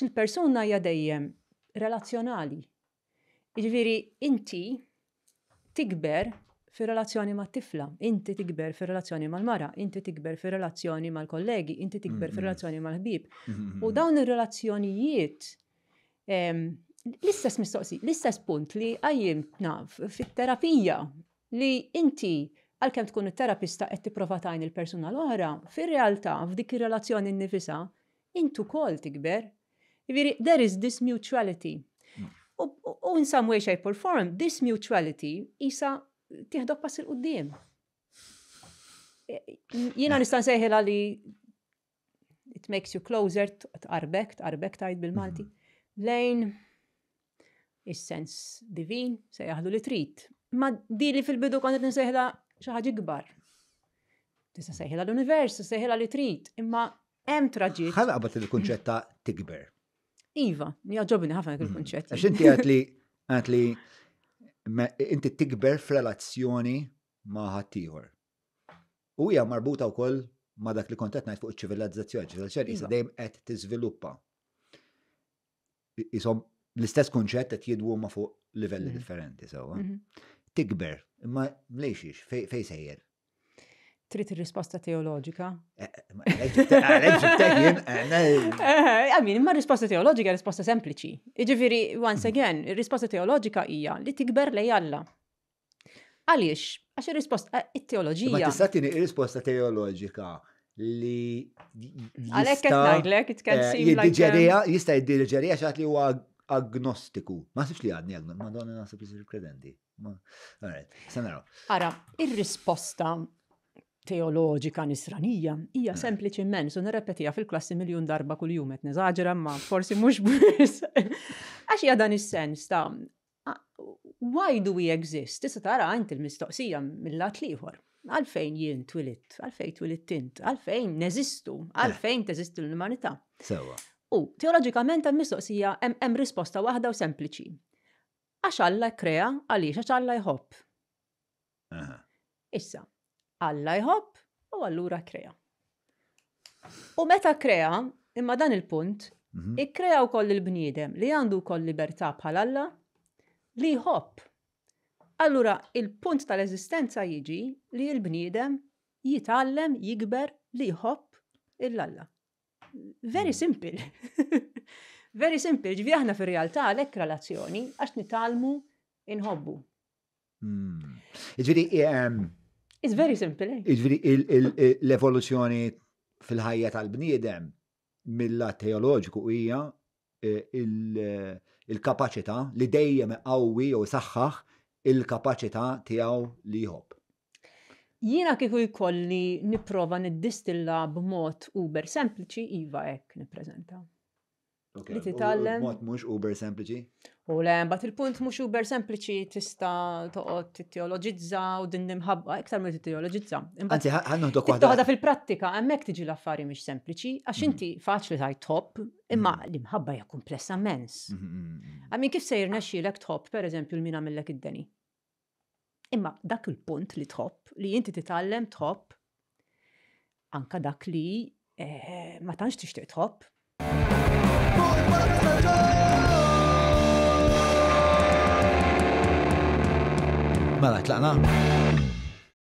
Il-persuna hija dejjem relazzjonali. Jiġifieri inti tikber fir-relazzjoni mat-tifla, inti tikber fir-relazzjoni mal-mara, inti tikber fir-relazzjoni mal-kollegi, inti tikber mm-hmm. fir-relazzjoni mal-ħbieb. Mm-hmm. U dawn ir-relazzjonijiet ehm, l-istess mistoqsi, l-istess punt li għajjim naf fit-terapija li inti għalkemm tkun it-terapista qed tipprova tajn il-persuna l-oħra, fir-realtà f'dik ir-relazzjoni nifisa Int ukoll tikber. Jiġifieri there is this mutuality. U in some way, shape or form, this mutuality isa tieħdok pass il-qudiem. Jiena nista' nsejħilha li it makes you closer, tqarbek, tqarbek tajt bil-Malti, mm-hmm. lejn is-sens divin, sejjaħlu li trid. Ma di li fil-bidu kont qed nsejħla xi ħaġa ikbar. Tista' sejħilha l-univers, sejħilha li trid, imma hemm traġit. Ħana qabad il-kunċett ta' tikber. Iva, jaġobni ħafna dik il-kunċett. Għax inti għad li għad li inti tikber f'relazzjoni ma' ħaddieħor. U hija marbuta wkoll ma' dak li kont qed ngħid fuq iċ-ċivilizzazzjoni, ċivilizzazzjoni iva. dejjem qed tiżviluppa. isom l-istess kunċett qed jidwu ma fuq livelli mhm. differenti sewwa. Mhm. Tikber, imma mlejxiex, fej sejjer. Trid ir-risposta teoloġika? Eh, eh, Għamin, imma risposta teoloġika risposta sempliċi. Iġifiri, once mhm. again, ir-risposta teoloġika hija li tikber lej Alla. Għaliex? Għax ir-risposta eh, it-teoloġija. Ma tista' tieni risposta teoloġika li għalhekk qed ngħidlek it can eh, seem like jiddiġerija um, jista' jiddiġerija xi li huwa agnostiku. Ma sibx li għadni agnostiku, ma donna nasib li kredenti. Alright, se naraw. Ara, ir-risposta teoloġika nisranija hija eh. sempliċiment u nirrepetija fil-klassi miljun darba kuljum qed neżaġera ma forsi mhux biss. Għax hija dan is-sens ta' Why do we exist? Tista' tara int il-mistoqsija mill-lat l-ieħor. Għalfejn jien twilitt? Għalfejn twilitt int? Għalfejn neżistu? Għalfejn eh. teżisti l-umanità? Sewa. U teoloġikament hemm mistoqsija hemm risposta waħda u sempliċi. Għax Alla krea għaliex għax Alla jħobb. Issa, Alla jħobb u allura krea. U meta krea, imma dan il-punt, mhm. ikkrea wkoll il-bniedem li għandu wkoll libertà bħal Alla li jħobb. Allura il-punt tal-eżistenza jiġi li l-bniedem jitgħallem jikber li jħobb il-Alla. Very mhm. simple. Very simple, ġvi aħna fir-realtà għalhekk relazzjoni għax nitalmu inħobbu. Iġviri, It's very simple. Eh? Iġviri, l-evoluzzjoni fil-ħajja tal-bniedem mill-lat teoloġiku hija eh, eh, il-kapacità li dejjem qawwi jew saħħaħ il-kapacità tiegħu li jħobb. Jiena kieku jkolli nipprova niddistilla b'mod uber sempliċi iva hekk nippreżenta. Li titgħallem. Mod mhux uber sempliċi. U le, mbagħad il-punt mhux uber sempliċi tista' toqgħod titteoloġizza u din nimħabba iktar mill titteoloġizza. Anzi, ħannuħdok waħda. Toħodha fil-prattika, hemmhekk tiġi l-affari mhix sempliċi, għax mm. inti faċli tajt top, imma mm. l-imħabba hija kumplessa mens. Għamin mm, kif se jirnexxielek top, pereżempju, l-mina millek id-deni. Imma dak il-punt li tħobb, li inti titgħallem tħobb, anka dak li eh, ma tantx tixtieq tħobb. Mela, tlaqna?